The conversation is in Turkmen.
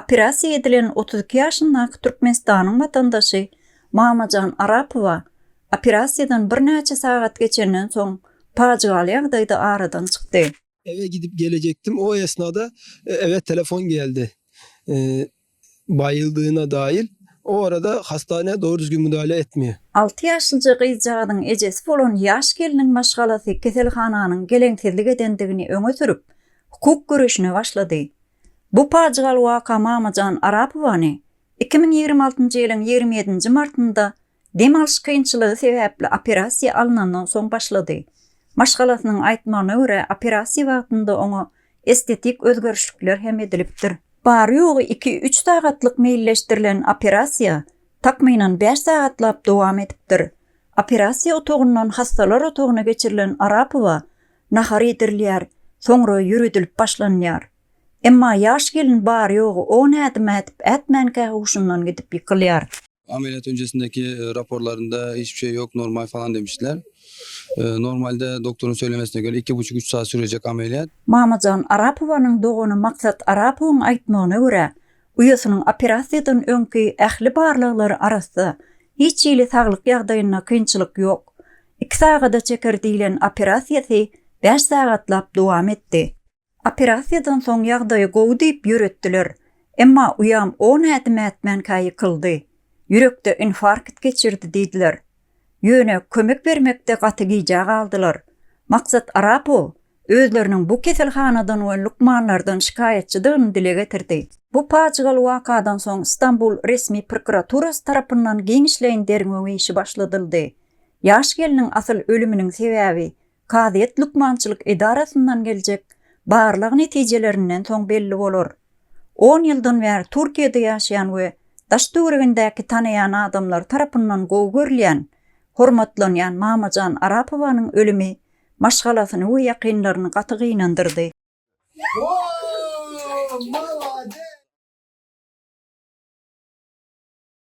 Operasiýa edilen otuz iki ýaşyndaky Türkmenistanyň watandaşy Mamajan Arapowa operasiýadan birnäçe sagat geçenden soň pajygaly ýagdaýda aradan çykdy. Ewe gidip gelejekdim, o esnada ewe telefon geldi. Baýyldygyna daýyl. O arada hastanä dogry düzgün müdahale etmeýär. Alty ýaşlyja gyzjagazyň ejesi bolan ýaş gelniň maşgalasy keselhananyň geleňsizlik edendigini öňe sürüp, hukuk göreşine başlady. Bu pajygaly waka Mamajan Arapowany iki müň ýigrimi altynjy ýylyň ýigrimi ýedinji martynda dem alyş kynçylygy sebäpli operasiýa alnandan soň başlady. Maşgalasynyň aýtmagyna görä, operasiýa wagtynda oňa estetik özgerişlikler hem edilipdir. Bary-ýogy iki-üç sagatlyk meýilleşdirilen operasiýa takmynan bäş sagatlap dowam edipdir. Operasiýa otagyndan hassalar otagyna geçirilen Arapowa Nahar iýdirilýär, soňra ýöredilip başlanýar. Emma ýaş gelin bary-ýogy on ädim ädip ätmänkä huşundan gidip ýykylýar. Ameliýat önjesindeki raporlarynda hiç bir şey yok, normal falan demişdiler. Normalde doktoryň söylemesine göre iki buçuk üç saat sürejek ameliýat. Mamajan Arapowanyň dogany Maksat Arapowyň aýtmagyna görä, uýasynyň operasiýadan öňki ähli barlaglary arassa, hiç hili saglyk ýagdaýynda kynçylyk ýok. Iki sagada çeker diýlen operasiýasy bäş sagatlap dowam etdi. Operasiýadan soň ýagdaýy gowy diýip ýöretdiler. Emma uýam on ädim ätmänkä ýykyldy. Ýürekde infarkt geçirdi diýdiler. Ýöne kömek bermekde gaty gijä galdylar. Maksat Arapow özleriniň bu keselhanadan we lukmanlardan şikaýatçydygyny dile getirdi. Bu pajygaly wakadan soň Stambul resmi prokuraturasy tarapyndan giňişleýin derňew işi başladyldy. Ýaş gelniň asyl ölüminiň sebäbi kazyýet lukmançylyk edarasyndan geljek barlag netijelerinden soň belli bolar. On ýyldan bäri Türkiýede ýaşaýan we daş-töweregindäki tanaýan adamlary tarapyndan gowy görülýän, hormatlanýan Mamajan Arapowanyň ölümi maşgalasyny we ýakynlaryny gaty gynandyrdy.